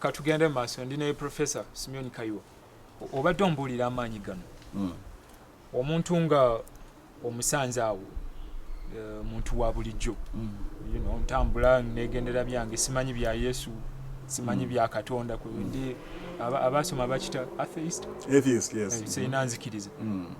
katugende mu maaso ndi ne professor simeon kayiwa obadde ombuulira amaanyi gano hmm. omuntu nga omusanze awo eh, muntu wa bulijjo hmm. ntambula negendera byange simanyi bya yesu simanyi hmm. bya katonda ndi abaasoma bakita atheist eh, sirina nzikiriza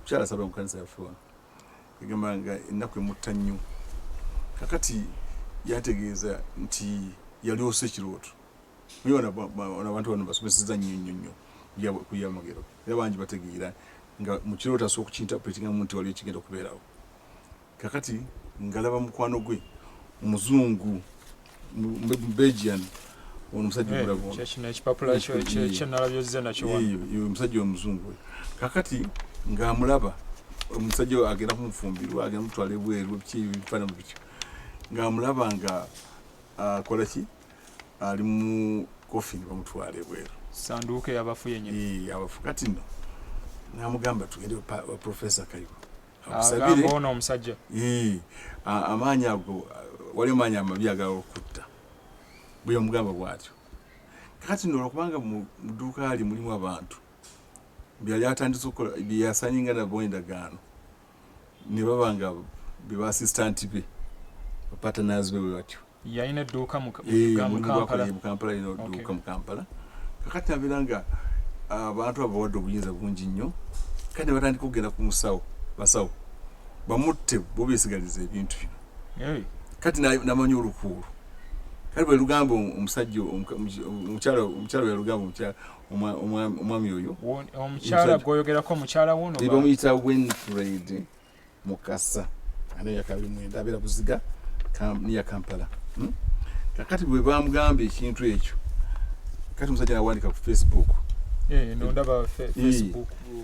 mukyala asabira mu kanisa yaffe wano egamba nga ennaku emutta nnyo kakati yategeeza nti yalyosa ekirooto naye abantu bano basomeseza nnyo nnyo nnyo kuyamagero era bangi bategeera nga mu kirooto asobola okukintapuletingamu nti waliwo ekigenda okubeerawo Kakati ngalaba mukwano gwe omuzungu Belgian ono musajja eh, omulabu kyekino ekipapula kyenalabye ozze nakyo wano omusajja omuzungu kakati ng'amulaba omusajja agenda kumufumbirwa agenda mutwala ebweru biki ebifaanano bityo ng'amulaba nga akola ki ali mu kofini bamutwala ebweru sanduuke yabafu yenyini abafu kati no namugamba tugende profesa kayiwa akusabire ono omusajja amaanyi ago wali omaanyi amabi agala okutta bwe omugamba bwatyo kati nolwa kubanga mu dduuka ali mulimu abantu byali atandise okukola byeyasanyinga nabo endagaano ne baba nga bebasistante be bapatanazi be bwe batyo yalina edduuka mu kampala yalina edduuka mu kampala kakati abeera nga ah, abantu abo bawadde obuyinza bungi nnyo kati batandika okugenda ku musawo basawo bamutte bo besigaliza ebintu bino kati namanya olukuulu kati bwe lugamba omusajja omukyala omukyala bwe lugamba omukyala omwami oyo omukyala gwoyogerako omukyala wuno bamuyita winfred mukasa ani yakabi mwenda abera buziga kam, niya kampala hmm? kakati bwe bamugamba ekintu ekyo kati musajja nawandika ku facebook eh,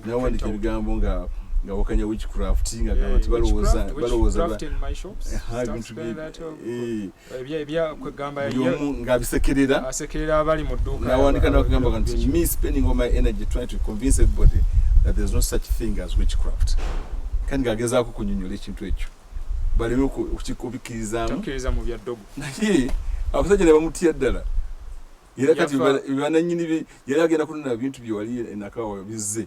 nawandika ebigambo nga nga wakanya witchcraft nga gaba eh, ti balowooza balowooza bintu ebya ebya kwegamba buli omu nga abisekerera asekerera abali mu dduuka nawandika nakugamba nti me spending all my energy trying to convince everybody that there's no such thing as witchcraft kandi ngagezaako kunyonyola ekintu ekyo baleme okukikubikirizamukkiriza mu bya ddogo naye abasajja ne bamutya ddala era kati bananyini yali agenda kunona bintu byewali enakawa bizze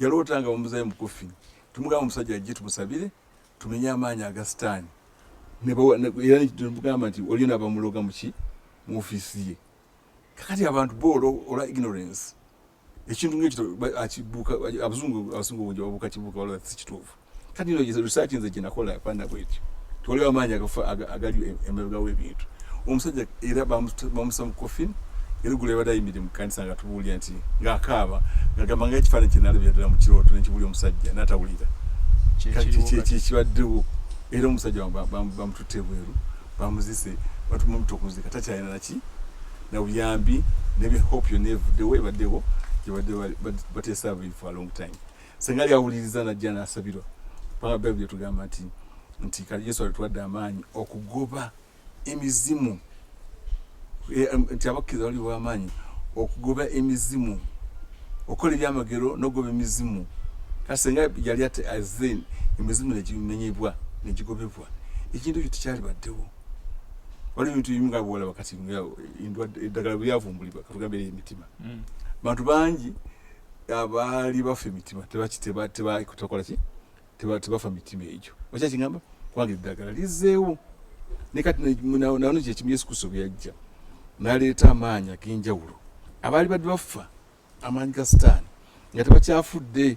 Yaloota nga bamuzayo mukufi tumugamba omusajja ajje tumusabire tumenye amaanyi aga sitaani era nemugamba nti waliyo nabamuloga muki mu ofiisi ye kakati abantu boolo olwa ignorance ekintu ngaekyo abusungu abasungu bungi babuuka kibuuka wala si kituufu kati ino yezo research nze kinakola panda bwetyo toleo amanya agafa agali emeruga webintu omusajja era bamusa mu coffin era gule bada imide mu kanisa nga tubuli anti nga akaba nga gamba nga ekifana kinalo byadala mu kiroto ne kibuli omusajja nata bulira kati kye kye kibaddewo era omusajja bamututte bweru bamuzise batumumutto kuzika takyalina naki na buyambi nebe hope yonevuddewo ebaddewo gyebadde bateesa bifu a long time senga lyawuliriza najja nasabirwa kubanga bayibuli etugamba nti nti kali yesu alituwadde amaanyi okugoba emizimu e, nti abakkiriza bali bwamaanyi okugoba emizimu okukola ebyamagero nokugoba emizimu kati senga yali ate aze emizimu negimenyebwa negigobebwa ekintu ekyo tekyalibaddewo waliwo ebintu bimu nga bwolaba kati eddagala bweyavumbulibwa katugambere emitima mm. bantu bangi abaali bafa emitima tebakola ki tebafa mitima egyo okya kigamba kubanga eddagala lizeewo ne kati nano kyekimu yesu kristo byeyajja naleeta amaanyi ag'enjawulo abaali badde bafa amaanyi ga sitaani nga tebakyafudde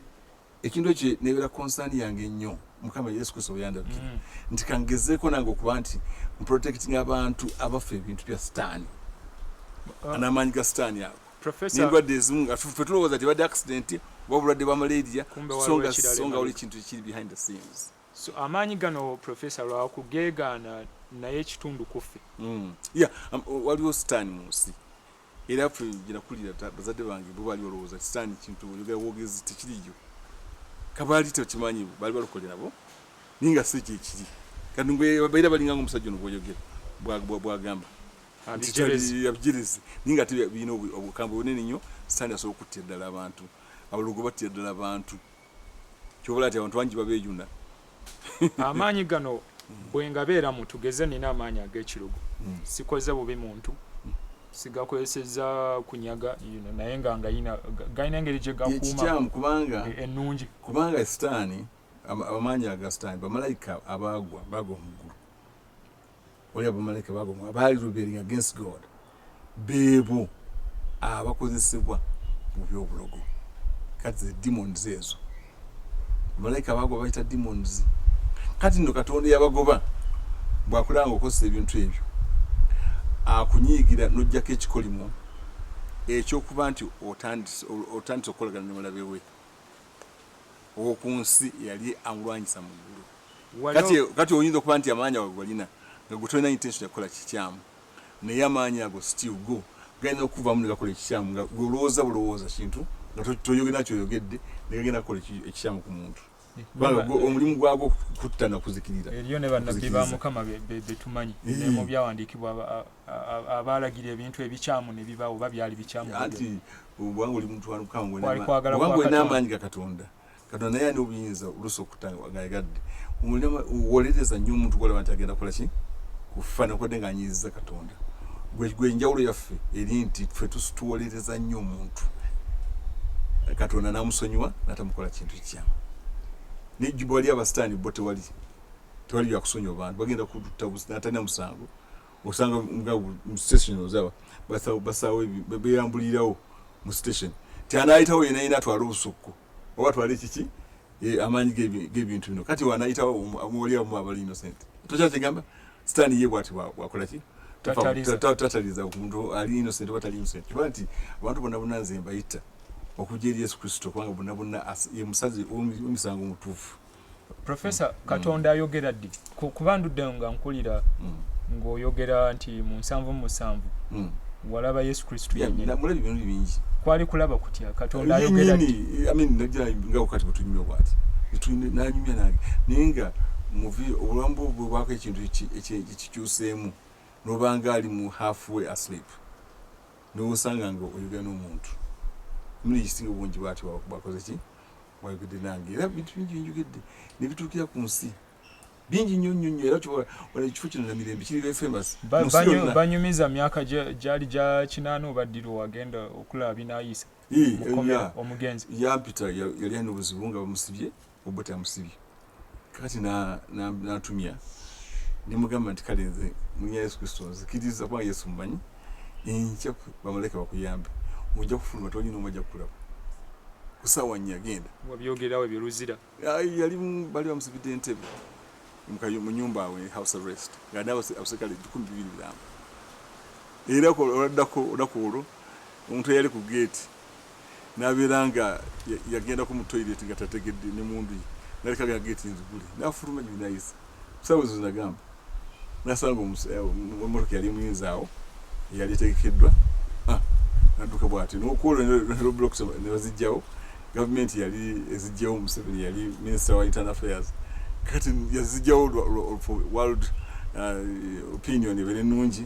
ekintu ekyo nebeera konsaani yange ennyo mukama yesu kristo weyandabikira mm. nti kangezeeko nange okuba nti mprotecting abantu abaffe ebintu bya sitaani uh, n'amaanyi ga sitaani ago nendwadde ezimu nga fe tulowooza ti badde accident oba obulwadde bwa malaria songa oli ekintu ekiri behind the scenes so amaanyi gano professor lwakugeegaana naye ekitundu kuffe mm. ya um, waliwo sitaani mu nsi Era ffe gyenakulira bazadde bange bo baali olowooza kisitaani kintu oyogera bwogezi tekiriyo kabaali tekimanyi baali balokole nabo naye nga si kyekiri kati ngwebaira balinga nga omusajja ono bwoyogera bwagamba abijirizi naye nga ate birina obukambwe bunene nnyo sitaani asobola okuttira ddala abantu abalogo battira ddala abantu kyobala ti abantu bangi babejuna amaanyi gano bwengabeeramu tugeze nina amaanyi ag'ekirugu hmm. sikoze bubi muntu sigakozeseza kunyaga you know, naye nga ngayina galina engeri gyegakuumakikyamu kubanga e, ennungi e, kubanga sitaani amaanyi aga sitaani bamalayika abaagwa baagwa mu ggulu Oli abamalayika bagoma abaali rebelling against God beebo abakozesebwa mu byobulogo kati the demons ezo bamalayika bagoba bayita demons kati no katonda yabagoba bwakulanga okozesa ebintu ebyo akunyiigira nojjako ekikolimo ekyokuba nti otandise okukolagana nomulabe we owokunsi yali amulwanyisa mu ggulu kati kati oyinza okuba nti amaanyi ago golina nga gutolina intention yakukola kikyamu naye amaanyi ago still go galina okuvamu negakola ekikyamu nga golowooza bulowooza kintu nga toyogera kyoyogedde negagenda kukola ekikyamu ku muntu omulimu gwago kutta nakuzikirira eriyo ne bannabbi ba mukama betumanyi mu byawandiikibwa abaalagira ebintu ebikyamu ne bibaawo oba byali bikyamu anti obwanga oli muntu walukango wali kwagala kwakatonda katonda naye ani obuyinza olusi okutagayagadde wolereza nnyo omuntu gwolaba nti agenda kola ki kufa nekodde nga anyiiziza katonda gwe enjawulo yaffe eri nti fe tuwolereza nnyo omuntu katonda namusonyiwa natamukola kintu kikyamu nejjuba wali abasitaani bo tewali tewali byakusonyiwa bantu bagenda kututta natalina musango osanga mu station ozaba basawo beyambulirawo mu station tyanayitawo yena yina atwala obusukku oba atwala ekiki e, amaanyi gebintu bino kati wanayitawo muwaliamu abali innocent tokyakigamba sitani ye bwati wakolaki tataliza omuntu ali innocent oba tali innocent kuba nti abantu bonna bonna nze mbayita okujja eri yesu kristo kubanga bonna bonna ye musazi omusango omutuufu Professor mm. Katonda mm. ayogera ddi kuba ndudde nga nkulira mm. ng'oyogera nti mu nsanvu musanvu mm. walaba yesu kristo yenyinamulaba ebintu bingi kwali kulaba kutya katonda ayogera ddi I mean, najira nga wakati bwetunyumya bwati nanyumya nange naye nga muvi obulamu bwo bwebwako ekintu ekikyuseemu nobanga ali mu halfway asleep nowosanga nga oyogera n'omuntu muli kisinga obungi bwati bwakoze ki wayogedde nange era bintu bingi binjogedde nebituukira ku nsi bingi nnyo nnyo nnyo era kyobola wala ekifo kino na mirembe kiri very famous banyumiza myaka gyali gya kinaana oba ddiri wagenda okulaba binayisa omugenzi yampita yali alina obuzibu nga bamusibye obuta amusibye kati natumya nemugamba nti kale nze munya yesu kristo nzikiriza kuba yesu mumanyi enkya bamalaika bakuyambe ojja kufuluma toli nomu ajja kukulaba kusaawa nnya genda wabyogerawo ebyo luzira yali bali bamusibidde entebe mu nyumba awe house arrest nga nawe abaserikale ebikumi bibiri biramba era oladdako olunaku olwo omuntu eyali ku geeti nabeera nga yagendako mu toilet nga tategedde ne mundu ye naleka nga geti nzigule nafuluma nyo nayisa kusawa ezo zinagamba nasanga omumotoka yali muyinza awo eyali etegekeddwa ah, nadduka bwati nokwolwo neblocks nebazijjawo gavumenti yali ezijjawo museveni yali minisita wa internal affairs kati yazijjawo world uh, opinion ebere nungi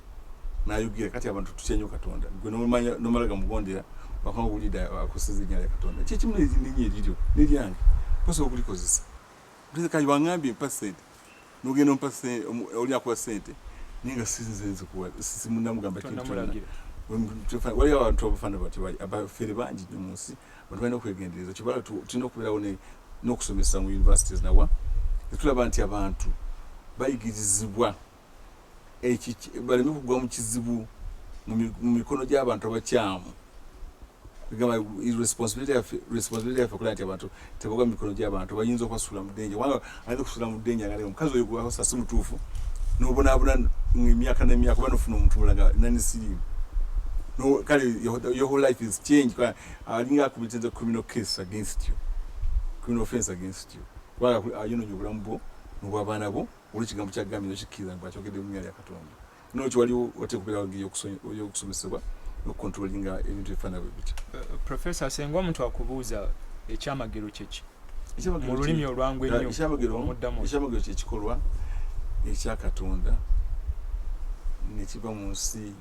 nayogera kati abantu tutya nyo katonda gwe nomanya nomala gamugondera wakanga wulidde akoseza ennyala ya katonda kyekimu nelinye eriryo neryange posobola okulikozesa kati wangambye mpa sente nogenda ompa oli akuwa sente naye nga sinzenzikuwasimunamugamba kintu waliyo abantu abafana bati abafere bangi nyo mu nsi bantu balina okwegendereza kyoba tulina okubeerawo n'okusomesa mu universities nawa netulaba nti abantu bayigirizibwa baleme kugwa mu kizibu mu mikono gy'abantu abakyamu gamba responsibility yaffe responsibility yaffe okulaba nti abantu tebagwa mu mikono gy'abantu bayinza okubasuula mu denja kubanga ayinza okusuula mu denja nga omukazi oyo gwewasa si mutuufu n'obonaabona emyaka n'emyaka oba nofuna omuntu mulaga nanisirimu no kale your whole life is change kwa alinga akubitinze criminal case against you criminal offense against you kwa ayino nyobulamu bo n'obw'abaana bo Olwo ekigambo kya Gambia nokikkiriza nti akyogedde mu linnya lya Katonda. Nolwekyo waliwo watera okubeerawo engeri y'okusomesebwa n'okukontrolinga ebintu ebifaana bwe bityo. Uh, uh, Profesa, senga omuntu akubuuza ekyamagero kyeki mu lulimi olwangu ennyo omuddamu. Ekyamagero kyekikolwa ekya Katonda ne kiva mu nsi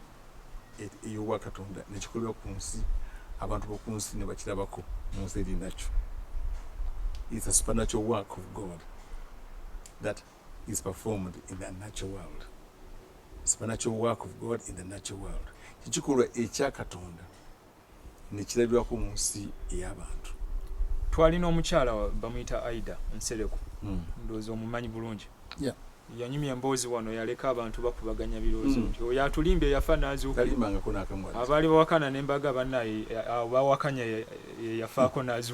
ey'obwa Katonda ne kikolebwa ku nsi, abantu b'oku nsi ne bakirabako mu nsi eri nakyo. It's a supernatural work of God that is performed in the natural world. Supernatural work of God in the natural world. Kikikolwa ekya Katonda. nekirabirwako mu nsi ey'abantu twalina omukyala bamuyita aida nsereko hmm. ndowooza omumanyi bulungi yanyumya emboozi wano yaleka abantu bakubaganya biroozo hmm. nti oyo atulimba eyafa nazuukaabaali bawakana nembaga banaye bawakanya eyafaako nazu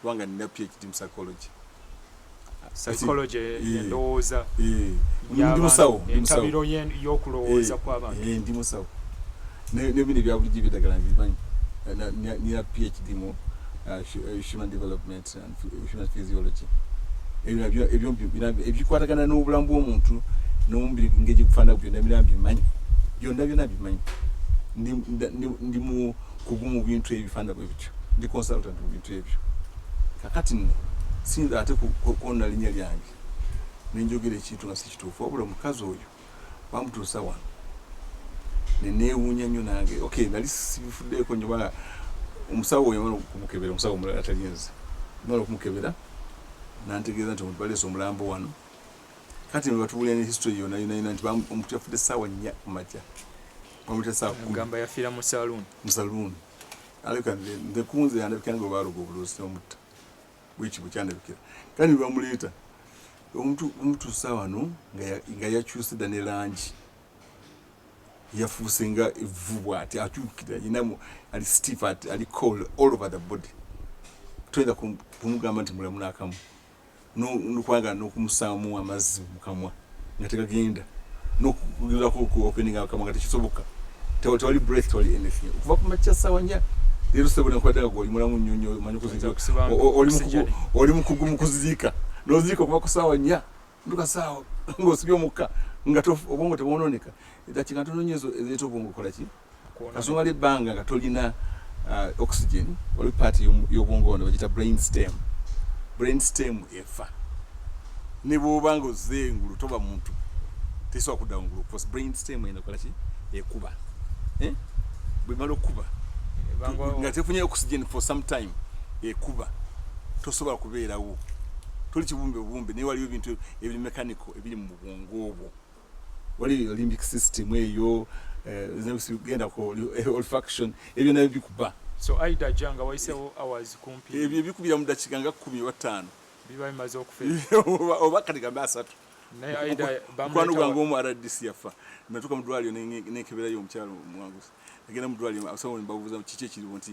kubanga nina PhD mu psychology psychology endowooza ndi musawo entabiro y'okulowooza kw'abantu ndi musawo nebino ebyabulijjo ebyedagala mbimanyi nina PhD mu uh, uh, human development and human physiology ebikwatagana n'obulamu bw'omuntu n'omubiri ngegikufaanana byonna bina mbimanyi byonna byonna bimanyi ndi mu kugu mu bintu ebifanda bwe bityo ndi consultant mu bintu ebyo kakati nno siyinza ate kwonna linnya lyange ne njogera ekintu nga si kituufu wabula omukazi oyo bamutuusa wano ne neewuunya nnyo nange ok nali sibifuddeeko nnyo bala omusawo oyo mala okumukebera omusawo omulala atalinze mala okumukebera nantegeeza nti omuntu baleesa omulambo wano Kati no batubulira ne history yona yona yona nti omuntu yafude sawa nya kumacha. Omuntu sawa kumi. Gamba yafira mu saloon. Mu saloon. Alika nde nde kunze yanda bikanga obaro go bulusi omuta. Wichi buchanda bikira. Kani bamuleta. Omuntu omuntu sawa no nga nga ya choose da ne lanji. Yafuuse nga evubwa ati atukira yinamu ali stiff at ali cold all over the body. Twenda kumugamba nti mulamu nakamu. nokwagala nokumusaamu amazzi mukamwa nga tegagenda nokugezako okuopeninga akamwa nga tekisoboka tewali breath tewali anything okuva kumakya sawa nya leero sebo nekwadaga gwe oli mulamu nnyo nnyo omanyi oli mukugu mu kuziika noziika okuva ku saawa nya nduka saawa ngaosibye omukka nga obwongo tebwononeka edakiika ntono nnyo ezo ezireeta obwongo okolaki kasumala ebbanga nga tolina uh, oxygen oli part y'obwongo wano bagita brain stem brain stem efa ne bwoba nga ozze engulu toba muntu tesobola kudda ngulu cause brain stem eno kola ki ekuba eh? bwemala okukuba nga tefunye oxygen for some time ekuba tosobola kubeerawo toli kibumbe bumbe naye waliwo ebintu ebiri mechanical ebiri mu bwongo obwo wali olympic system eyo genda ku olfaction ebyo nabyo bikuba so aida ja nga wayisewo hours kumpi ebyo bikubira mu dakiika nga kumi oba ttaano biba bimaze okufa oba kati gambe asatu mukwano gwange omu rdc yafa natuka mudwaliro nekeberayo omukyalo mwangusi agenda mudwaliro abasawo nembabuuza kiki ekiriwo nti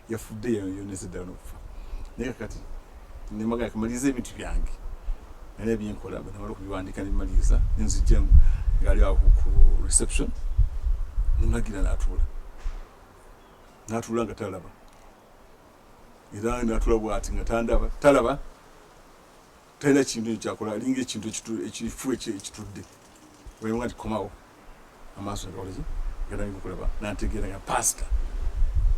yafudde yonese ddala nokufa naye kakati nemagala kamaliriza ebintu byange nalina byenkola namala okubiwandika nebimaliriza nenzijja ngaali awo ku reception nemagira natuula natuula nga talaba era natuula bwati nga tandaba talaba talina kintu kyakola alinga ekintu ekifu ekitudde wayonga nti komawo amaaso nagakolaki ganalinga okulaba nategeera nga pasita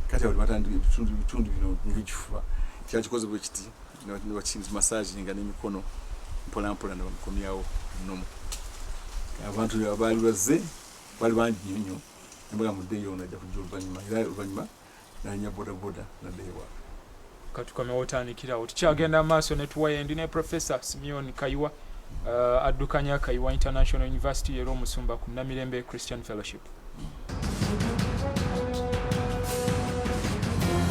kati abali batandika ebitundu bino ngaekifuba kyakikoze bwe kiti nebakisinzi masaji nga nemikono mpolampola nebamukomyawo nomu abantu abaali bazze bali bangi nyo nyo nembaga muddeyo ono ajja kujja oluvanyuma era oluvanyuma nanya bodaboda nadda ewaka katukomewo otandikirawo tukyagenda maaso ne tuwayendi ne professor simeon kayiwa uh, addukanya kayiwa international university era omusumba ku namirembe christian fellowship mm.